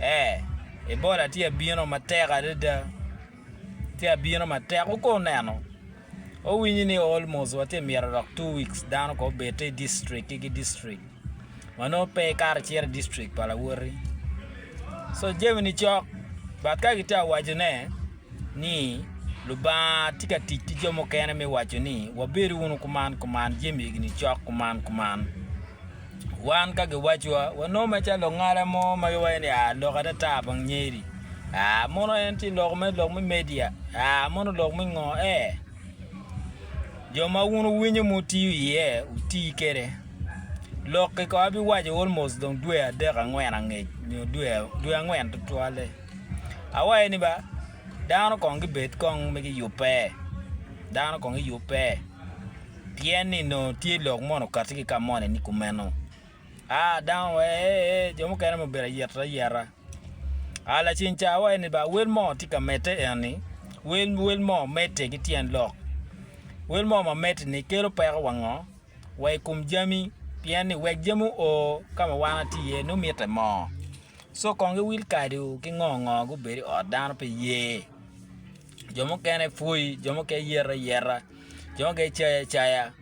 Ee, Ebola tye abino matek adada. Tye abino matek. Wuko oneno. Wawinyi ni almost wa tye myero dok two weeks dano ko obedte i district ki ki district. Wa nongo pe ikato icito i district pa lawoti. So jami ni cok. But ka gitye ka wacone ni Lubanga tye ka tic ki jo mukene me waco ni wabed wunu kuman kuman jami eni cok kuman kuman. Wan ka giwacowa, wanongo macalo lungala mo ma giwaco ni, 'Aa lok atata bong nyeri. Aa, mono en tye lok me, lok me media? Aa, mono lok me ngo? Ee. Jo ma wun wuwinyo ma wutiyo iye, wuti kwede. Lok-ki kong abiwaco almost dong dwe adek angwen angec, nyo dwe, dwe angwen tutwalle. Awaco ni ba, dano kong gibed kong ma giyubbe. Dano kong giyubbe. Pien ni nongo tye lok mono kati ki ka mone ni kumeno. A, dano wa ee, ee, jo mukene ma obedo ayet ayeta. A, lacen ca wa eni ba wel mo tye ka mete eni, wel, wel mo mete ki tyen lok. Wel mo ma mete ni kelo peko wa ngo? Wa i kum jami, pien ni wek jami o ka ma wan ati iye nongo mite mo. So kong gi wil kadi o ki ngo ngo gubedo i ot dano pe ye. jo mukene pwoyi jo mukene yito ayita jo mukene cayo acaya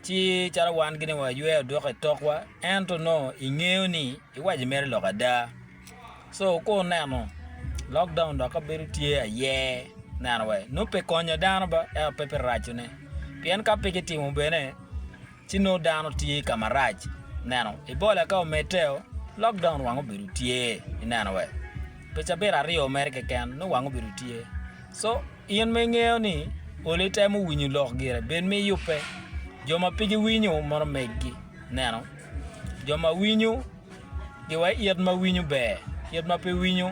ci calo wan gin aye wa yweyo odoko i tokwa ento nongo i ngeyo ni iwaco ni imito lok ada so ka oneno lok down dok ka bedo tye aye neno wa nongo pe konyo dano ba ento pe biraco ne pien ka pe kitimo bene Ci nongo dano tye ka marac. Ineno? Ibola ka omedde-o, lok dong nwang obedo tye. Ineno wee? Pi cabit aryo mere keken, nongo wang obedo tye. So, in ma ingeyo ni olo itemo winyo lok gire, bed ma iyubbe. Jo ma pe giwinyo, mono meggi. Ineno? Jo ma winyo, giwa i it ma winyo ber, it ma pe winyo,